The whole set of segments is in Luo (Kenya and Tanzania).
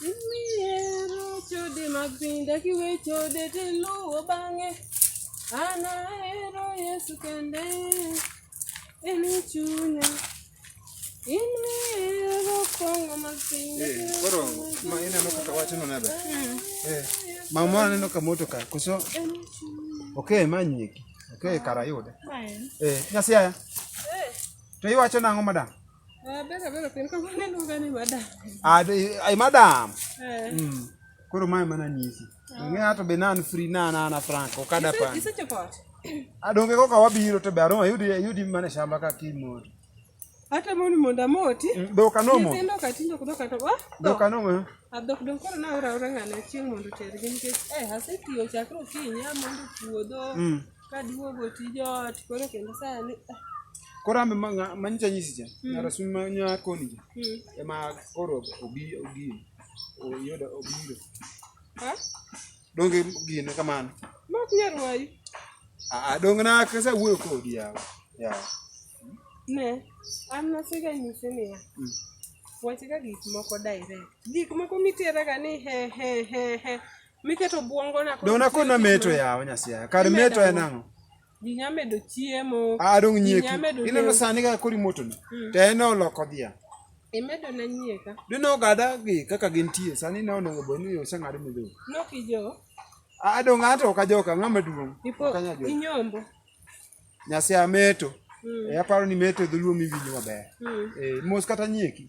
Mihero chode mag piny dak iwe chode tiluwo bang'e an ahero Yesu kende en chunya in mihero kwongo mag piny dak Eh, iwe koro ma ineno kaka wachno nebe Eh, mama aneno ka moto ka koso ok manyeki ok kara yude Eh, nyasiaya to iwacho nang'o madam Ah, bera bera pen ko ne no gane madam. Ah, ai madam. Eh. Mm. Koro mai mana nisi. Ah. Ng'e ato be nan free na na na frank okada pa. Ise chapot. Adonge ah, ko ka wabiro to be aron yudi yudi mana shamba ka kimo. Hata moni monda moti. Mm, do kanomo. Ise ndo katindo kudoka to ba. Ah, do kanomo. Eh? Adok don koro na ora ora ngane chieng mondo tergi nikech eh asetiyo chakro kinya mondo puodho. Mm. Kaduogo tij ot koro kendo sani ah. koro ame manyicha nyisi cha hmm. ng'ato sum manya koni cha hmm. ema koro obi obi oyudo obiro donge gine kamano mak nyar wayu aa dong na kasa wuoyo kodi yawa yawa ne an nasega nyisi niya hmm. wachga gik moko direct gik moko miteraga ni he he he he Miketo buongo na. Dona ko na meto ya onya sia. Kar meto ya nango. Ginya medo chiemo. A dong nyeki. Ina no sani ga kori moto ni. Hmm. Te ene oloko dia. Imedo na nyieka. Dino gada gi kaka gintie sani ne onego boni yo sanga ri mido. No kijo. A dong ato ka joka ngama duong. Ipo inyombo. Nyasi ameto. Mm. E aparo ni meto dhuluo miwinjo maber. Mm. E mos kata nyieki.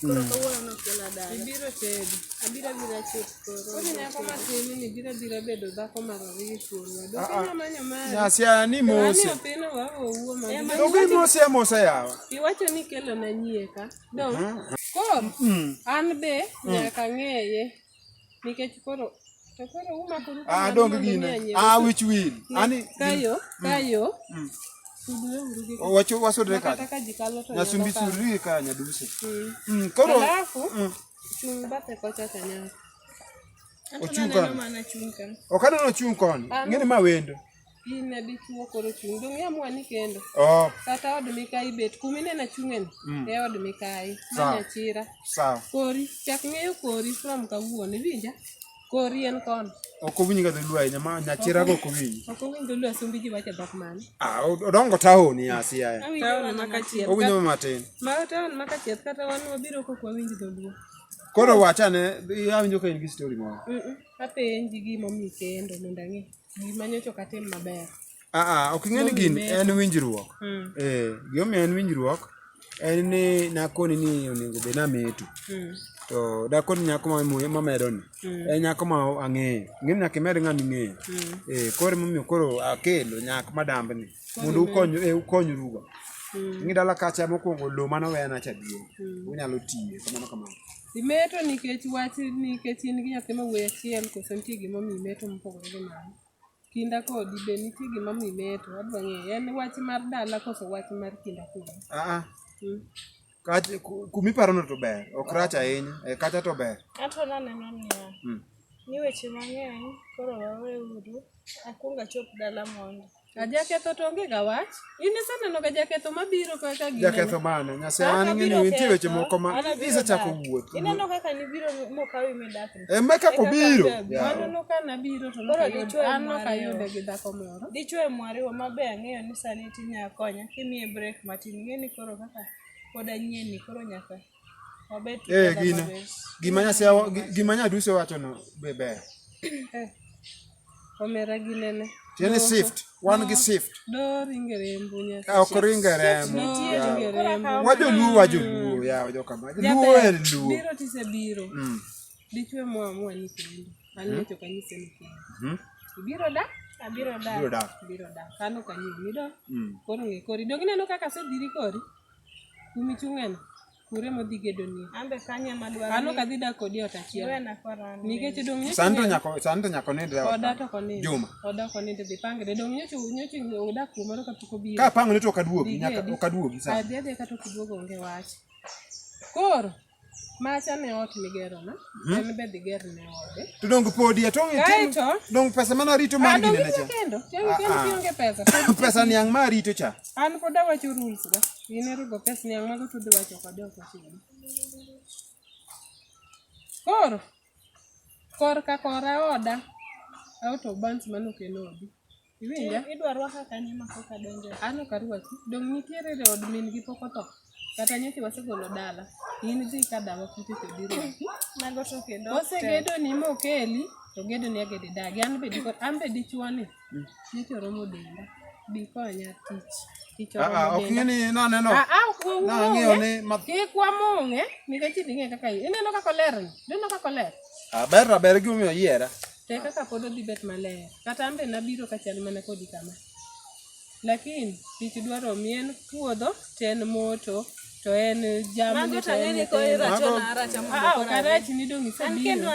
Koro kawuono ne ok ila dala. Ibiro tedo. Abiro abira chot koro. Koro nyako matini ni biro abira bedo dhako mar ariyo kuomwa. Dok inya manyo mari. Nyasia ni mose. Ani opino wa owuo ma. To gi mose mose yawa. Iwacho ni kelo na nyie ka. Dong. Koro an be nyaka ng'eye. Nikech koro to koro umako ruko. Ah dong gine. Ah which will. Ani kayo mm. kayo. Mm. Wacho wasodre ka. Na sumbi suri ka nyaduse. Mm. mm koro. Alafu. Mm. Chung bate kocha kanyako. Ochung kan. Okano no chung kon. Ngene ma wendo. in e dichuo koro chung' dong' yamwani kendo oh. kata od mikayi bet kuma ineno achung'eni mm. e od mikayi manyachira kori chak ng'eyo kori from kawuono iwinja kori en kono ok owinj ga dholuo ahinya ma nyachira go ok owinj ok owinj dholuo asumbi ji wacho dhok mane ah odongo taon ni asi aya taon ma kachiel owinjo matin ma taon ma kachiel kata wan wabiro kok wawinj dholuo koro wachane awinjo ka in gi story moro apenji gimomiyo kendo mondo ang'e Gima nyocha ok atim maber. Ah, ah, ok ing'e ni gin en winjruok. Hmm. Eh, gimomiyo en winjruok en ni nakoni ni onego bed nameto. Hmm. To dakoni nyako mamedo ni. Hmm. En nyako ma ang'eyo. Ng'im nyaka imed ng'ama ing'eyo. Eh, koro emomiyo koro akelo nyak madamb ni. Mondo ukonyu eh, ukonyrugo. Ng'i dala kacha mokwongo lo mane owena cha duong'. Unyalo tiye kamano kamano. Imeto nikech wach nikech in gi nyathi ma wuoyi achiel koso nitie gima omiyo imeto mopogore gi mano? Kinda kodi be nitie gima omiyo imeto? Adwa ng'eyo. En wach mar dala koso wach mar kinda kodi? Aa, Mm. kach, ku- kumiparono to ber, ok rach ahinya, e, kata to ber. Ato naneno niya, Mm. ni weche mang'eny koro waweuru, akwong achop dala mondi. Ajaketho to onge ga wach. In iseneno ga jaketho mabiro kaka gino. Jaketho mane? Nyase an ng'eyo nitie weche moko ma isechako wuoth. Ineno kaka nibiro mokawi midak. E ma kaka obiro. Mano no ka nabiro to koro dichwe an no ka yude gi dhako moro. Dichwe mwariwa mabe ang'eyo ni sani tinya konya kimiye break matin ng'eni koro kaka pod anyien ni koro nyaka Wabed Eh, together gina. always. Gima nyase gima nyadusi wacho no be ber. Eh, Omera gi nene. Tiene Doho. shift, wan gi shift. Do ringe rembu nyaka. Ka ok ringe remo. Nitie yawa. ringe rembu. Wajo luo wajo luo yawa joka ma. Jaber, Luo en luo. Biro tise biro. Mm. Dichwe mwa mwa ni kendo. An nyocho kanyise ni kendo. Mhm. Ibiro da? Abiro Biro dak. dak. Biro da. Kano kanyo mido. Mm. Koro ng'e kori. Dog ineno kaka asedhiri kori? Umi chung'eno. Kure modhi gedonie. Ambe kanye madwaro. Ano kadhi dak kodi ot achiel. Wena korani. Nikech dong nyocho. Santo nyako santo nyako ne dra. Oda to koni. Juma. Oda koni to dipange de dong nyocho nyocho oda kuma ro kapiko bi. Ka pango ne to kaduogi nyaka okaduogi sa. Adhi adhi ka to kiduogo onge wach. Koro Macha ne ot migero na, hmm? en be diger ne ode. To dongo podi atong' itim. Kaito. Dongo pesa mana rito mar gine na cha. Ah, kendo, kendo ah, kendo ah. kionge pesa. Pesa ni ang' ma rito cha. An pod awacho rules ga. Ine rugo pesa ni ang' mago tudhi wacho kode ok ochiwo. Koro, kor ka kora oda, auto bans manokelo odi. Iwinja? Idwa rwaka kanye ma pok adonjo? An ok arwaki. Dong' nitiere e od min gi pok otho. Kata nyocha wasegolo dala. In dhi ka dawa kute to biro. Mago to kendo. Osegedo ni mokeli to gedo ni agede dagi. An be dikot an be dichwo ni. Mm. Nyocha oromo denda. Bikonya tich. Tich oromo denda. Ah, ok ng'e ni naneno. Ah, ah, ok ng'e. Nang'eyo ni. Kik wamong'e. Nikech idhi ng'e kaka ineno kaka oler ni. Ineno kaka oler. Aber aber gimomiyo oyiera. Te kaka pod odhi bet maler. Kata ambe nabiro kachal mana kodi kama. Lakini tich dwaro mi en puodho to en moto to en jamni to en nyithindo. Ah, ok arach ni dong isebiro.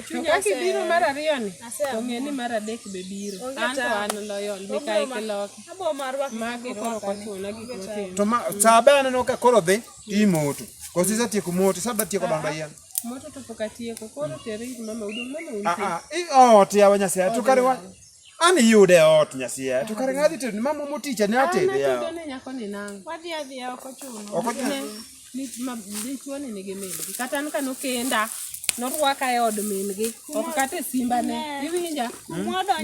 To kaka ibiro mar ariyo ni, to ng'e ni mar adek be biro. An to an loyal, Mikayi Kiloki. Mago koro ok ochuno gik motimo. To ma, saa be aneno ka koro dhi, imoto. Koso isetieko moto, saa be tieko dongo yien. Moto to pok atieko. Koro tere ir mama udong' mama un. Ah ah. Ot yawa Nyasaye to kare wa. An yude ot Nyasaye. To kare ng'adhi to mama moticha ne atebe yawa. An nyako ni nang. Wadhi adhi ya ok ochuno. Ok ochuno. Ni ma dichwo ni nigi mel. Kata an kano kenda. norwaka e od min-gi ok kata e simbane iwinja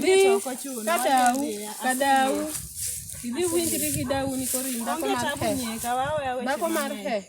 dhi kadau kadau idhi winjri gi dauni koro in dhako mar he dhako mar he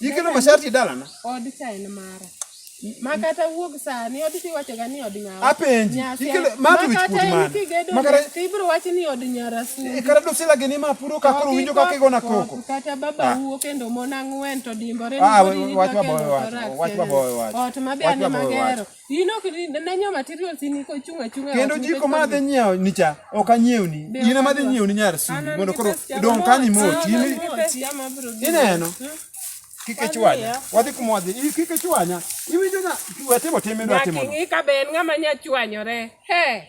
Ikelo masharti dalana. Od cha en mara. Makata wuog sani od ti wacho ga ni od nyawa. Apenji. Ikelo ma tu wich put man. Makata ti bro wacho ni od nyara su. E kara do sila geni ma puro ka koro winjo ka kigo na koko. Kata baba ah. wuo kendo mona ngwen to dimbore ni. Ah, wach baba wach. Wach baba wach. Ot ma be an magero. kendo jiko ma adhi nyiewo nicha ok anyiewni in ema adhi nyiewni nyar sudi mondo koro dong' ka ni moti ineno hmm? kik ichwanya wadhi kuma wadhi kik ichwanya iwinjo na watimo time dwa timo ng'i ka be en ng'ama nya chwanyore he